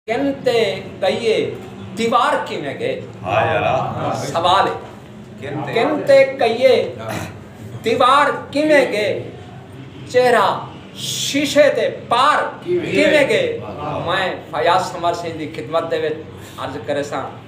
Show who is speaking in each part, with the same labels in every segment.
Speaker 1: کن تے کئیے دیوار کیویں گئے سوال ہے کن تے کئیے دیوار کیویں گئے چہرہ شیشے دے پار کیویں گئے میں فیاض سمر سنگھ دی خدمت دے وچ عرض کرے ساں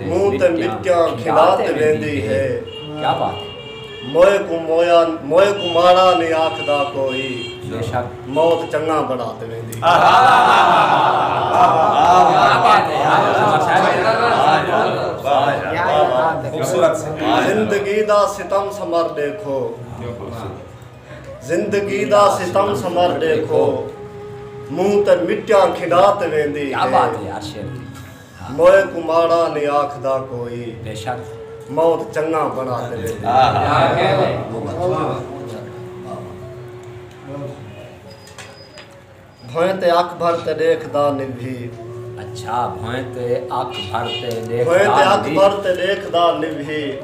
Speaker 2: مونہہ تے مٹیاں کھلا تے ویندی ہے موئے کوں ماڑا نی آکھدا کوئی موت چنگا بنا تے ویندی زندگی دا ستم سمر ڈیکھو زندگی دا ستم سمر ڈیکھو منہ تے مٹیاں کھڈا تے ویندی ہے کیا بات ہے یار شیر
Speaker 1: دی موئے کو ماڑا
Speaker 2: نی آکھدا کوئی بے شک
Speaker 1: موت چنگا
Speaker 2: بنا تے ویندی ہے کیا کہہ رہے بھوئیں تے اکھ بھر تے ڈیکھ دا نبھی۔ اچھا
Speaker 1: بھوئیں تے اکھ بھر تے ڈیکھ دا نبھی۔ بھوئیں تے اکھ بھر تے ڈیکھ دا
Speaker 2: نبھی۔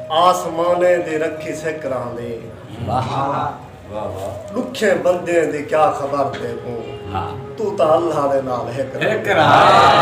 Speaker 2: آسمانیں دی رکھی سک راہندی۔ واہ واہ واہ۔ ڈکھیں بندیں دی کیا خبر تیکوں۔ تو تاں اللہ دے نال ہک راہندی۔ ہک راہندی۔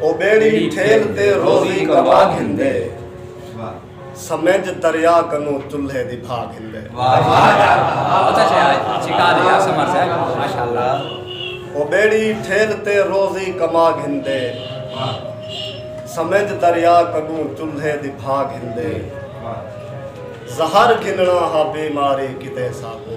Speaker 2: او بیڑی ٹھیل تے روزی کما گھندے سمجھ دریا کنو چلھے دی بھا گھندے او بیڑی ٹھیل تے روزی کما گھندے سمجھ دریا کنو چلھے دی بھا گھندے زہر گھننا ہا بیماری کتے ساکو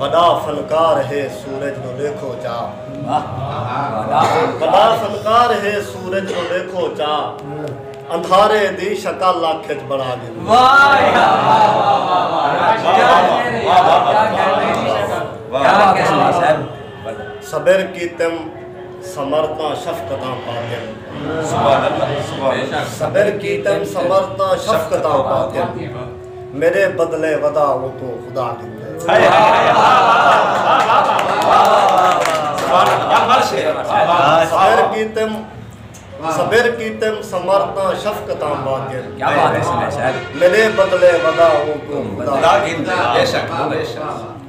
Speaker 2: وݙا فنکار ہے سورج نو ݙیکھو چا۔ وݙا فنکار ہے سورج نو ݙیکھو چا۔ اندھارے دی شکل اکھ اچ بݨا ڳھدی ہے۔ صبر کیتم ثمر تاں شفقتاں پاتم۔ صبر کیتم ثمر تاں شفقتاں پاتم۔ میݙے بدلے ودا اوکوں خدا ݙیندے صبر کیتم سمرتاں شفقتاں باقر کیا بات ہے
Speaker 1: میرے بدلے
Speaker 2: ودا اوکوں خدا ڈیندے بے شک بے شک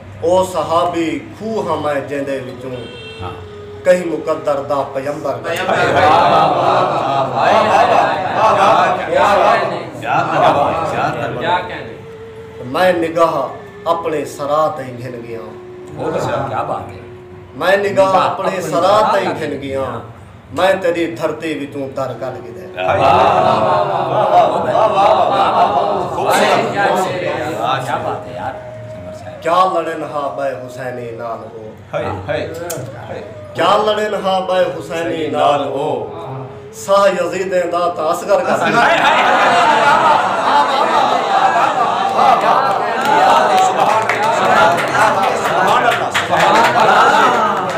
Speaker 2: او صحابی کھوہ ہمائے جیندے وچوں کہیں مقدر دا پیمبر دا میں نگاہ اپنے سرا تئیں گھن گیاں
Speaker 1: میں نگاہ
Speaker 2: اپنے سرا تئیں گھن گیاں میں تیڈی دھرتی وچوں در کڈھ گھدے۔ کیا
Speaker 1: لڑن
Speaker 2: ہا بئے حسینی نال او کیا لڑن ہا بئے حسینی نال او ساہ یزیدیں دا تا اصغر کر سبحان اللہ سبحان اللہ سبحان اللہ